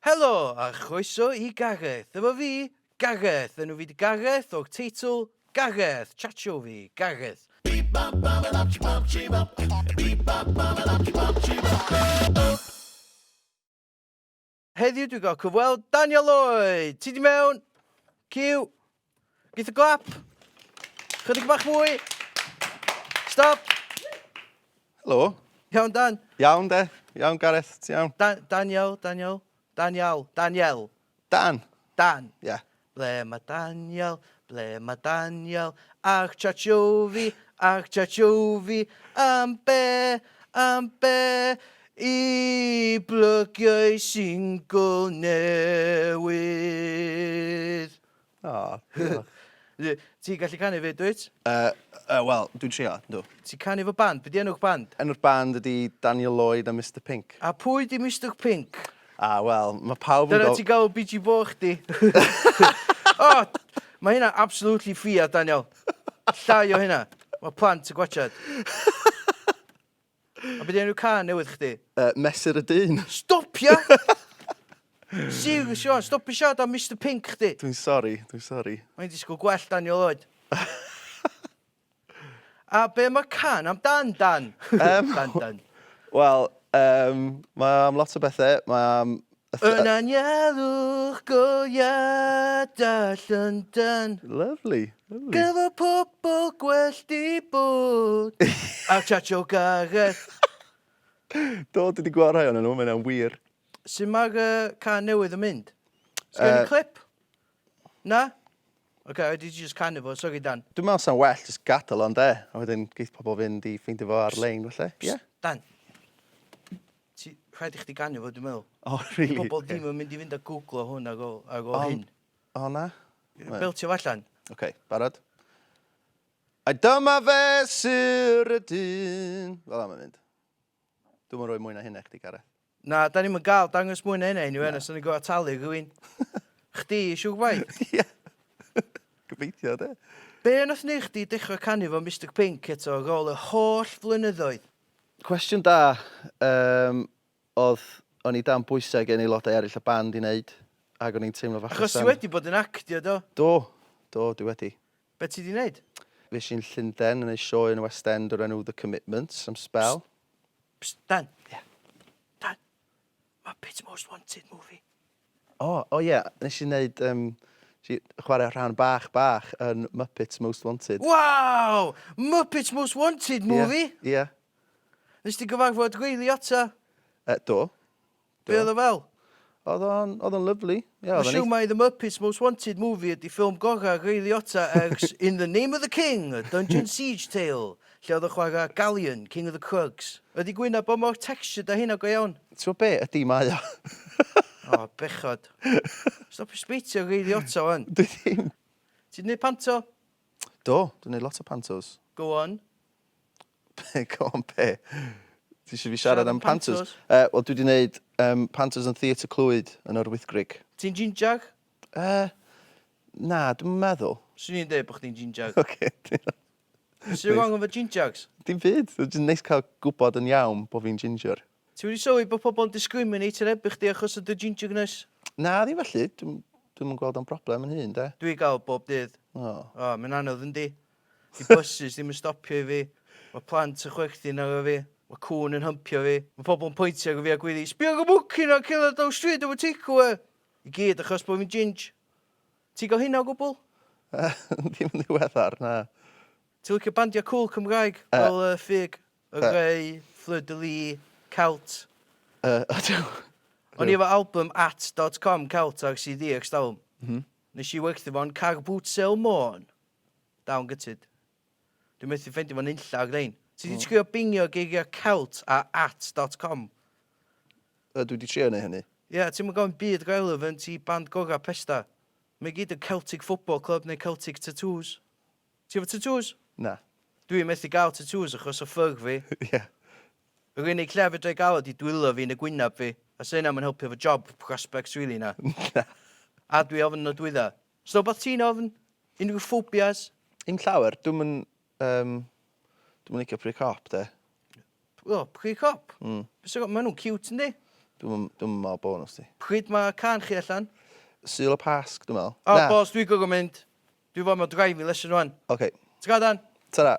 Helo a chroeso i Gareth. Efo fi, Gareth. Enw fi 'di Gareth o'r teitl Gareth. Chatsio fi, Gareth. Heddiw dwi'n cael cyfweld Daniel Lloyd! Ti di mewn? Cyw! Geith y glap. Chydig bach fwy. Stop. Helo. Iawn, Dan. Iawn, de. Iawn, Gareth. Ti iawn? Da Daniel, Daniel. Daniel. Daniel. Dan. Dan. Ie. Yeah. Ble mae Daniel? Ble mae Daniel? Ach chachofi, ach chachofi, am be, am be i blygiau single newydd. O, diolch. Ti, ti'n gallu canu fyd, dwyt? Uh, uh, Wel, dwi'n trio, dw. Ti'n canu fy band? Beth di enw'ch band? Enw'r band ydi Daniel Lloyd a Mr Pink. A pwy di Mr Pink? A, wel, mae pawb yn... Dyna ti'n gael BG Bo chdi. oh, mae hynna absolutely ffia, Daniel. Llai o hynna. Mae plant yn gwachad. A be' 'di enw cân newydd chdi? Yy Mesur y Dyn. Stopia! Serious Siân, stopia siarad am Mister Pinc chdi. Dwi'n sori, dwi'n sori. O'n i'n disgwyl gwell Daniel oed. A be' ma' cân am dan dan? Yym. Dan dan. Wel yym mae am lot o bethe, mae am Yn aniarwch go iada Llundain. Lovely, lovely. Gyda pobl gwellt i bod. A Chacho Gareth. Do, dwi wedi gweld rhai o'n nhw, mae'n wir. Sut mae'r uh, can newydd yn mynd? Sgen uh, clip? Na? OK, I did just canu fo, sorry Dan. Dwi'n meddwl sa'n well, just gadael o'n de. A wedyn geith pobl fynd i ffeindio fo ar-lein, felly. Ie? Dan. Ti... Rhaid i chdi ganu fo dwi meddwl. O rili? Dyw pobol ddim yn mynd i fynd a gwglo hwn ag o ag o hyn. O na? Beltio fo allan. Oce, barod? A dyma fe syr y dyn. Fel am yn mynd. Dwi'n yn rhoi mwy na hynna chdi, Gareth. Na, da ni'n gael dangos mwy na hynna i ni, wen, os o'n i'n gwybod talu rhywun. Chdi, siw gwaith? Ie. Gobeithio, de. Be yn o'th neu chdi dechrau canu fo Mr Pink eto ar ôl y holl flynyddoedd? Cwestiwn da yym odd o'n i dan bwyse gen aelodau eryll y band i neud ag o'n i'n teimlo fach yn Achos ti wedi bod yn actio do? Do, do dwi wedi. Be ti di neud? Fues i'n Llunden yn neud sioe yn y West End o'r enw The Commitments am sbel. Psst, Dan. Ie. Dan, Muppets Most Wanted movie. O, o ie, nes i neud, yym, nes i chwarae rhan bach bach yn Muppets Most Wanted. Waw! Muppets Most Wanted movie? Ie, ie. Nes di gyfarfod Riley ato? Yy, do. Do. Be oedd o fel? Oedd o'n, oedd o'n lyfli. Ie, oedd o'n Dwi'n siwr mai The Muppets Most Wanted movie ydi ffilm gorau Ray Liotta ers In the Name of the King, A Dungeon Siege Tale. Lle oedd y chwarae Galleon, King of the Crugs? Ydi gwin a bo mor textured a hynna go iawn? T'mo be? Ydi, mae o. O, bechod. Stopio sbeitio Ray Liotta 'wan. Dwi ddim. Ti 'di neud panto? Do, dwi'n neud lot o pantos. Go on. Be, go on be? Ti eisiau fi siarad am pantos? Uh, Wel, dwi wedi gwneud um, pantos yn Theatr Clwyd yn o'r Wythgrig. Ti'n ginger? Uh, na, dwi'n meddwl. Swn i'n dweud bod chdi'n ginger. Oce, okay, Sut ti'n gwybod bod fi'n gingex? Dim byd, mae'n jyst neis cael gwybod yn iawn bod fi'n ginger. Ti wedi sylwi bod pobl yn discriminate yn erbyn chdi achos o dy gingergness? Na, ddim felly, dwi'm dwi'm yn gweld o'n broblem yn hun, de. Dwi gael o bob dydd. O. O, mae'n anodd yndi? Di buses ddim yn stopio i fi, mae plant yn chwerthin arno fi, mae cŵn yn hympio fi, mae pobl yn pointio ar fi a gwyddu 'Sbia ar y mwci 'na yn cerdded lawr stryd efo takeaway! I gyd achos bod fi'n ginge. Ti gael hynna o gwbl? Yy dim yn ddiweddar, na. Ti'n licio bandiau cŵl Cymraeg fel yy Ffug, Y Rhei, Fleur de Lis, Celt? Yy ydw. O'n i efo album at dot com Celt ar CD erstalwm. M-hm. Nes i werthu fo'n Car Boot Sale Môn. Dal yn gutted. Dwi methu ffeindio fo nunlla o grein. Ti 'di trio bingio geiriau celt a at dot com? Yy dwi 'di trio neu hynny. Ie, ti'm yn gofyn byd relevant i band gora Pesda. Mae gyd yn Celtic Football Club neu Celtic Tattoos. Ti efo tatŵs? Na. Dwi methu gael tatŵs achos o ffyr fi. Ie. Yr unig lle fedra i gael o 'di dwylo fi neu gwynab fi, a 'sa hynna 'm yn helpu efo job prospects rili na. Na. A dwi ofn nodwydda. Sut wbath ti'n ofn? Unrhyw phobias? Dim llawer. Dwi'm yn yym dwi'm yn licio pry cop 'de. O pry cop? Hmm. Be' sy ma' nw'n ciwt yndi? Dwi'm yn dwi'm yn me'wl bo' n'w sdi. Pryd ma' cân chi allan? Sul y Pasg dwi'n me'wl. O boss dwi gor'o' mynd. Dwi fod mewn driving lesson rwan. Oce. Tara Dan. Tara.